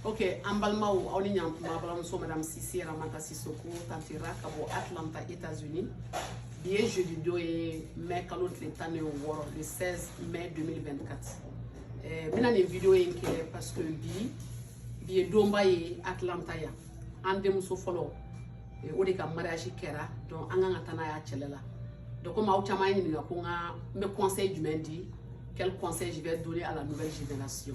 ok an balimaw aw ni a tuma aw balimamuso madame cissé ramata sisoko tanti ra ka bɔ atlanta états unis bi ye jeudi don ye mai kalo tile tan ni wɔɔrɔ le 16 mai 2024 eh, n bɛna nin video in kɛ parce que bi bi ye donba ye atlanta yan an denmuso fɔlɔ eh, o de ka mariage kɛra donc an kan ka taa n'a y'a cɛla donc komi aw caman ye n ɲininka ko n ka n bɛ conseil jumɛn di quel conseil je vais donner à la nouvelle génération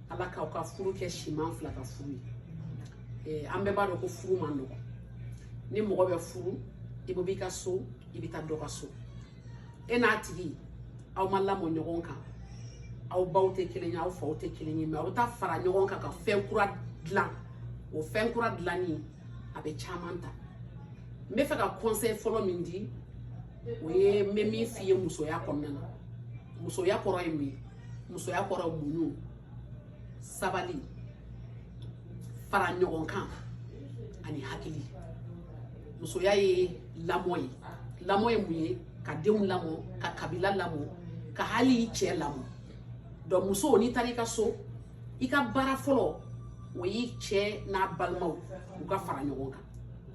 ala k'aw ka furu kɛ silamɛ fila ka furu ye an bɛɛ b'a dɔn ko furu man nɔgɔ ni mɔgɔ bɛ furu i bɛ b'i ka so i bɛ taa dɔ ka so e n'a tigi aw ma lamɔ ɲɔgɔn kan aw baw tɛ kelen ye aw faw tɛ kelen ye mais aw bɛ taa fara ɲɔgɔn kan ka fɛn kura dilan o fɛn kura dilanni a bɛ caman ta n bɛ fɛ ka conseil fɔlɔ min di o ye n bɛ min f'i ye musoya kɔnɔna na musoya kɔrɔ ye mun ye musoya kɔrɔ muɲu sabali fara ɲɔgɔn kan ani hakili musoya ye lamɔ ye lamɔ ye mun ye ka denw lamɔ ka kabila lamɔ ka hali i cɛ lamɔ donc muso n'i taara i ka so i ka baara fɔlɔ o y'i cɛ n'a balimaw u ka fara ɲɔgɔn kan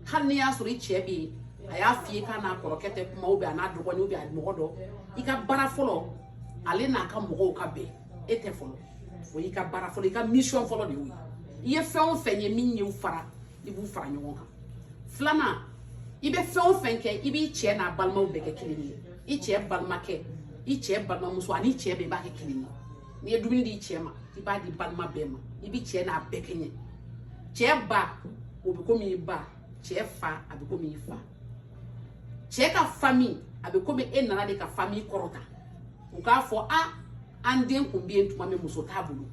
hali n'i y'a sɔrɔ i cɛ bɛ yen a y'a f'i ye k'a n'a kɔrɔkɛ tɛ kuma ou bien a n'a dɔgɔnin ou bien a mɔgɔ dɔ i ka baara fɔlɔ ale n'a ka mɔgɔw ka bɛn e tɛ fɔlɔ o y'i ka baara fɔlɔ i ka mission fɔlɔ de y'o ye i ye fɛn o fɛn ye min y'u fara i b'u fara ɲɔgɔn kan filanan i bɛ fɛn o fɛn kɛ i b'i cɛ n'a balimaw bɛɛ kɛ kelen ye i cɛ balimakɛ i cɛ balimamuso ani cɛ bɛɛ b'a kɛ kelen ye n'i ye dumuni di cɛ ma i b'a di balima bɛɛ ma i bɛ cɛ n'a bɛɛ kɛɲɛ cɛ ba o bɛ komi i ba cɛ fa a bɛ komi i fa cɛ ka fami a bɛ komi e nana de ka fami kɔrɔta u k'a fɔ a an den tun bɛ yen tuma min muso t'a bolo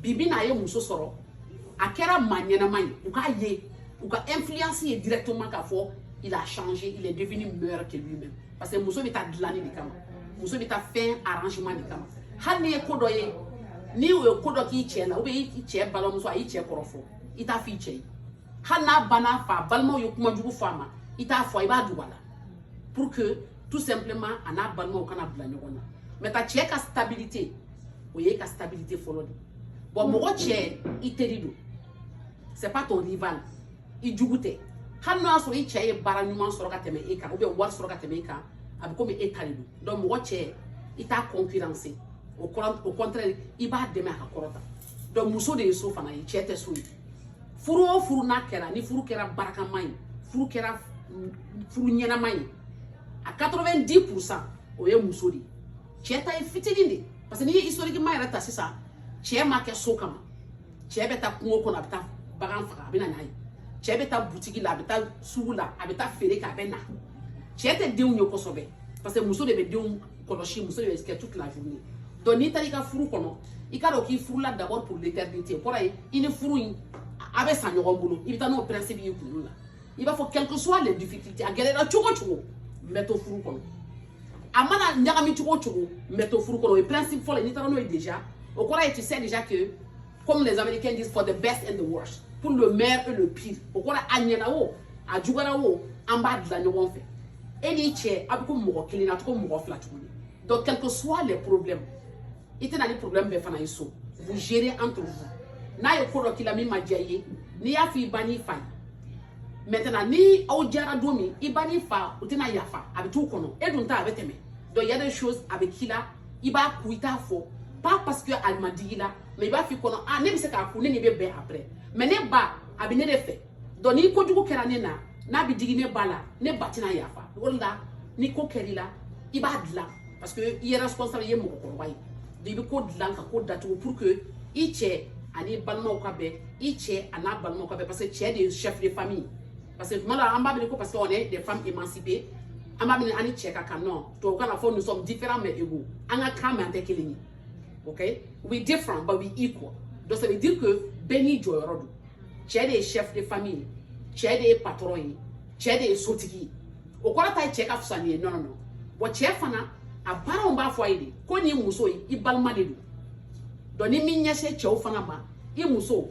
bi bi in na a ye muso sɔrɔ a kɛra maa ɲɛnama ye u k'a ye u ka influence ye directement k'a fɔ il a changé il est devenu meilleur que lui-même parce que muso bɛ taa dilanni de kama muso bɛ taa fɛn arrangement de kama hali n'i ye ko dɔ ye n'u ye ko dɔ k'i cɛ la ou bien i cɛ balimamuso a y'i cɛ kɔrɔfɔ i t'a f'i cɛ ye hali n'a ba n'a fa balimaw ye kuma jugu fɔ a ma i t'a fɔ i b'a dogo a la pour que tout simplement a n'a balimaw kana bila ɲɔgɔn na mais i ka cɛ ka stabilité o y'i ka stabilité fɔlɔ de don mɔgɔ cɛ i teri don c'est pas ton rival i jugu tɛ hali n'o y'a sɔrɔ i cɛ ye baara ɲuman sɔrɔ ka tɛmɛ e kan ou bien wari sɔrɔ ka tɛmɛ e kan a bɛ komi e ta de don donc mɔgɔ cɛ i t'a concurrence au contraire i b'a dɛmɛ a ka kɔrɔta donc muso de ye so fana ye cɛ tɛ so ye furu o furu n'a kɛra ni furu kɛra barakama ye furu kɛra furu ɲɛnama ye a 90 pourcent o ye muso de cɛ ta ye fitinin de parce que n'i ye historiquement yɛrɛ ta sisan cɛ ma kɛ so kama cɛ bɛ taa kungo kɔnɔ a bɛ taa bagan faga a bɛ na n'a ye cɛ bɛ taa butigi la a bɛ taa sugu la a bɛ taa feere kɛ a bɛ na cɛ tɛ denw ye kosɛbɛ parce que muso de bɛ denw kɔlɔsi muso ye kɛ toute la journée donc n'i taara i ka furu kɔnɔ i k'a dɔn k'i furula d'abord pour l'éternité o kɔrɔ ye i ni furu in a bɛ sa ɲɔgɔn bolo i bɛ taa n'o principe y'i kunkolo la i b'a fɔ quel que soit les difficultés a gɛlɛyara cogo cogo n bɛ to furu kɔnɔ a mana ɲagami cogo cogo n bɛ to furu kɔnɔ o ye principe fɔlɔ ye n'i taara n'o ye déjà o kɔrɔ ye tu sais déjà que comme les Américains disent, for the best and the worst. Pour le meilleur et le pire. O kɔrɔ a ɲɛna o, a juguyara o, an b'a dilan ɲɔgɔn fɛ. E n'i cɛ, a bɛ ko mɔgɔ kelen na, cogo mɔgɔ fila tuguni. Donc, quel que soit les problèmes, i tɛ na ni problème bɛɛ fana ye so. Vous gérez entre vous. N'a ye ko dɔ k'i la min ma diya i ye, n'i y'a fɔ i ba n'i fa ye, maintenant ni aw diyara don min i ba n'i fa u tɛna yafa a bɛ t'u kɔnɔ e dun ta a bɛ tɛmɛ donc il y a des choses a bɛ k'i la i b'a kun i t'a fɔ pas parce que a ma digi i la mais i b'a f'i kɔnɔ a ne bɛ se k'a kun ne n'a bɛ bɛn après mais ne ba a bɛ ne de fɛ donc ni kojugu kɛra ne na n'a bɛ digi ne ba la ne ba tɛna yafa o de la ni ko kɛr'i la i b'a dilan parce que i ye responsable i ye mɔgɔkɔrɔba ye donc i bɛ ko dilan ka ko datugu pour que i cɛ an'i balimaw ka bɛn i cɛ a n'a balimaw ka bɛn parce que cɛ de ye chef de famille parce que tuma la an b'a miiri ko parce que on est des femmes émancipées an b'a miiri an ni cɛ ka kan non tubabukan na fɔ nous sommes différents mais égaux an ka kan mais an tɛ kelen ye ok we different but we equal donc ça veut dire que bɛɛ n'i jɔyɔrɔ don cɛ de ye chef de famille ye cɛ de ye patron ye cɛ de ye sotigi ye o kɔrɔ tɛ cɛ ka fisa n'i ye non non non bon cɛ fana a baaraw b'a fɔ a ye de ko nin muso ye i balima de don donc nin bɛ ɲɛsin cɛw fana ma i muso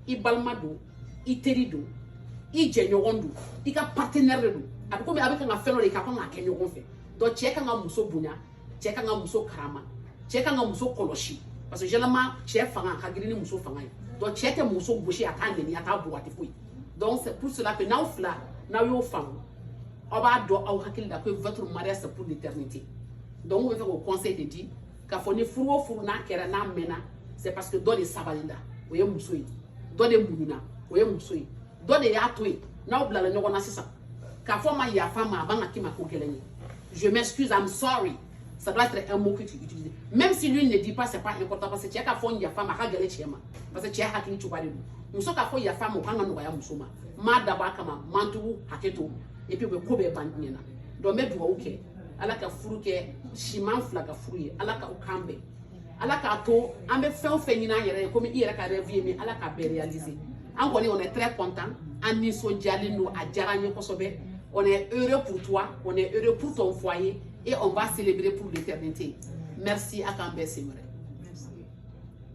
i balima don i teri don i jɛɲɔgɔn don i ka partenaire de don a bɛ komi a bɛ kan ka fɛn dɔ de kɛ a kan k'a kɛ ɲɔgɔn fɛ donc cɛ kan ka muso bonya cɛ kan ka muso karama cɛ kan ka muso kɔlɔsi parce que généralement cɛ fanga ka girin ni muso fanga ye donc cɛ tɛ muso gosi a t'a neni a t'a bugɔ a tɛ foyi donc c'est pour cela que n'aw fila n'aw y'o faamu aw b'a dɔn aw hakili la ko votre mariage c'est pour l'éternité donc n b'a fɛ k'o conseil de di k'a fɔ ni furu o furu n'a kɛra n'a mɛnna c'est parce que dɔ de sabali la o ye muso ye dɔ de muɲuna o ye muso ye dɔ de y'a to yen n'aw bilala ɲɔgɔn na sisan k'a fɔ a ma yafa n ma a man kan ka k'i ma ko gɛlɛn ye je m'excuse i'm sorry ça doit être un mot que tu utilises même si lui ne dit pas c'est pas important parce que cɛ k'a fɔ yafa n ma a ka gɛlɛn cɛ ma parce que cɛ hakili cogoya de don muso k'a fɔ yafa n ma o kan ka nɔgɔya muso ma n m'a dabɔ a kama n ma tugu hakɛ to et puis o bɛ ko bɛɛ ban diɲɛ na donc n bɛ dugawu kɛ ala ka furu kɛ siman fila ka furu ye ala ka u kan bɛn ala k'a to an bɛ fɛn o fɛn ɲini an yɛrɛ ye komi i yɛrɛ ka rêve ye min ala k'a bɛɛ réaliser an kɔni on est très content an nisɔndiyalen don a diyara an ye kosɛbɛ on est heureux pour toi on est heureux pour ton foyer et on va célébrer pour l'éternité merci a k'an bɛn siɲɛ wɛrɛ